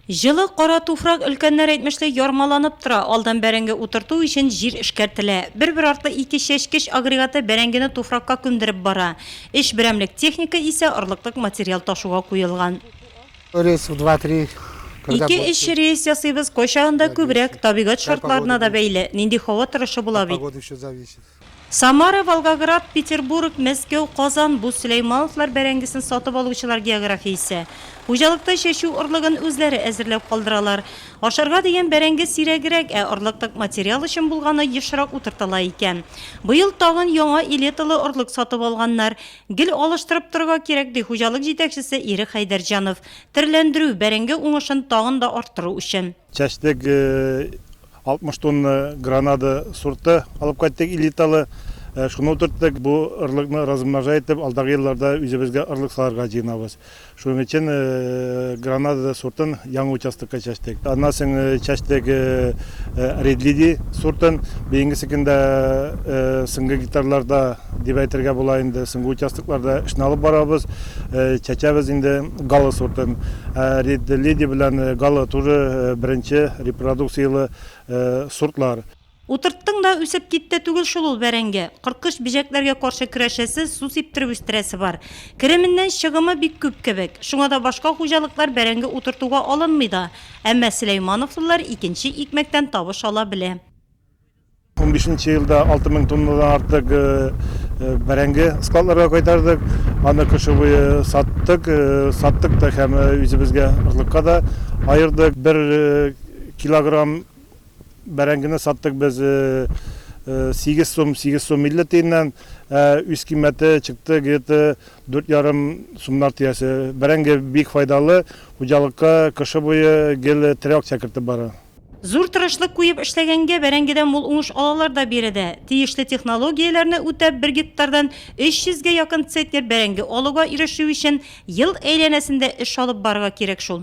Җылы кара туфрак өлкәннәр әйтмешли ярмаланып тора, алдан бәрәңге утырту өчен җир эшкәртелә. Бер-бер артлы ике чәчкеч агрегаты бәрәңгене туфракка күмдереп бара. Өч берәмлек техника исә орлыклык материал ташуга куелган. Ике-өч рейс ясыйбыз, кайчагында күбрәк, табигать шартларына да бәйле, нинди һава торышы була бит. Самара, Волгоград, Петербург, Мәскәү, Казан, бу Сөләймановлар бәрәңгесен сатып алучылар географиясе. Хуҗалыкта чәчү орлыгын үзләре әзерләп калдыралар. Ашарга дигән бәрәңге сирәгрәк, ә орлык тык материал өчен булганы ешрак утыртыла икән. Быел тагын яңа элеталы орлык сатып алганнар. Гел алыштырып торырга кирәк, ди хуҗалык җитәкчесе Ирек Хәйдәрҗанов. Терләндерү, бәрәңге уңышын тагын да арттыру өчен. Чәчтек 60 тонна гранада сорты алып кайттык элиталы. Шуны утырттык, бу ырлыкны размножать итеп, алдагы елларда үзебезгә ырлык салырга җыенабыз. Шуның өчен гранада сортын яңа участокка чәчтек. Аннан соң чәчтек Red Lady сортын. Быелгы секында, соңгы гектарларда, дип әйтергә була инде. Соңгы участокларда эшне алып барабыз, чәчәбез инде Гала сортын. Ә Ред Леди белән Гала тоже беренче репродукцияле сортлар. Утырттың да үсеп китте түгел шул ул бәрәңге. Корткыч-бөҗәкләргә каршы көрәшәсе, су сиптереп үстерәсе бар. Кеременнән чыгымы бик күп кебек. Шуңа да башка хуҗалыклар бәрәңге утыртуга алынмый да. Әмма сөләймановлылар икенче икмәктән табыш ала белә. Унбишенче елда алты мең тоннадан артык бәрәңге складларга кайтардык. Аны кышы буе саттык, саттык та һәм үзебезгә орлыкка да аердык. Бер килограмм бәрәңгене саттык без сигез сум, сигез сум илле тиеннән. Ә үз кыйммәте чыкты где-то дүрт ярым сумнар тирәсе. Бәрәңге бик файдалы, хуҗалыкка кышы буе гел тере акча кертеп бара. Зур тырышлык куеп эшләгәнгә бәрәңгедән мул уңыш алалар да биредә. Тиешле технологияләрне үтәп, бер гектардан 300 гә якын центнер бәрәңге алуга ирешү өчен ел әйләнәсендә эш алып барырга кирәк шул.